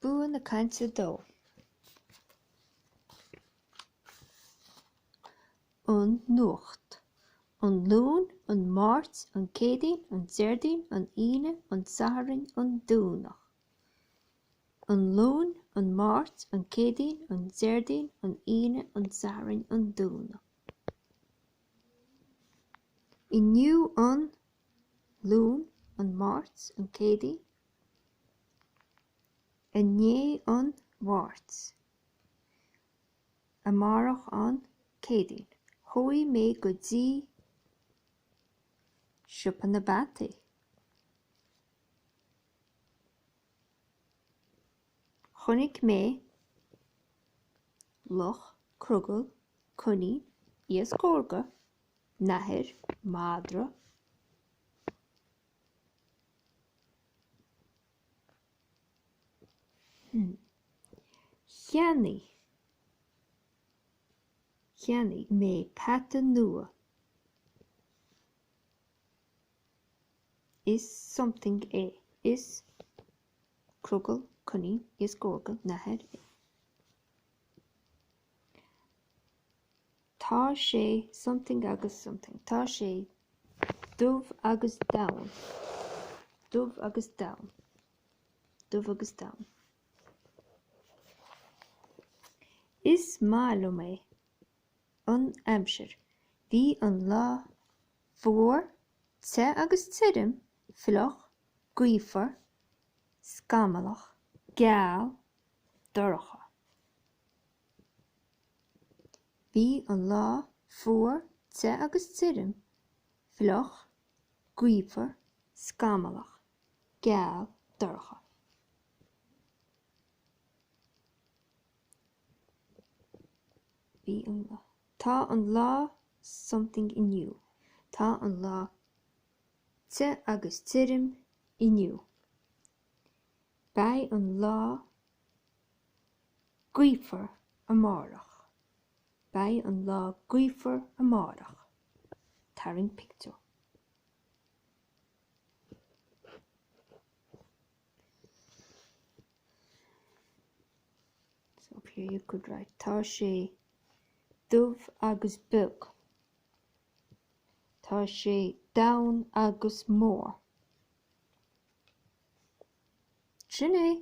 Bua na Cainte 2. An Nuacht An Luan, an Máirt, an Céadaoin, an Déardaoin, an Aoine, an Satharn, an Domhnach. An Luan, an Máirt, an Céadaoin, an Déardaoin, an Aoine, an Satharn, an Domhnach. Inniu an. Luan, an Máirt, an Céadaoin, Inné an Mháirt, amárach an Céadaoin, chuaigh mé go dtí siopa na bpeataí chonaic mé luch, crogall, coinín, iasc órga, nathair, madra, Cheannaigh, Cheannaigh mé peata nua. Is something é. Is crogall, coinín, iasc órga, nathair é. Tá sé something agus something. Tá sé dubh agus donn. Dubh agus donn. Dubh agus donn. Is maith liom é. An aimsir. Bhí an lá fuar, te agus tirim, fliuch, gaofar, scamallach, geal, dorcha. Bhí an lá fuar, te agus tirim, fliuch, gaofar, scamallach, geal, dorcha. Bhí an lá. Tá an lá something inniu. Tá an lá te agus tirim inniu. Beidh an lá gaofar amárach, Beidh an lá gaofar amárach. Tarraing pictiúr. So up here you could write Tá sé dubh agus beag. Tá sé donn agus mór. Sin é!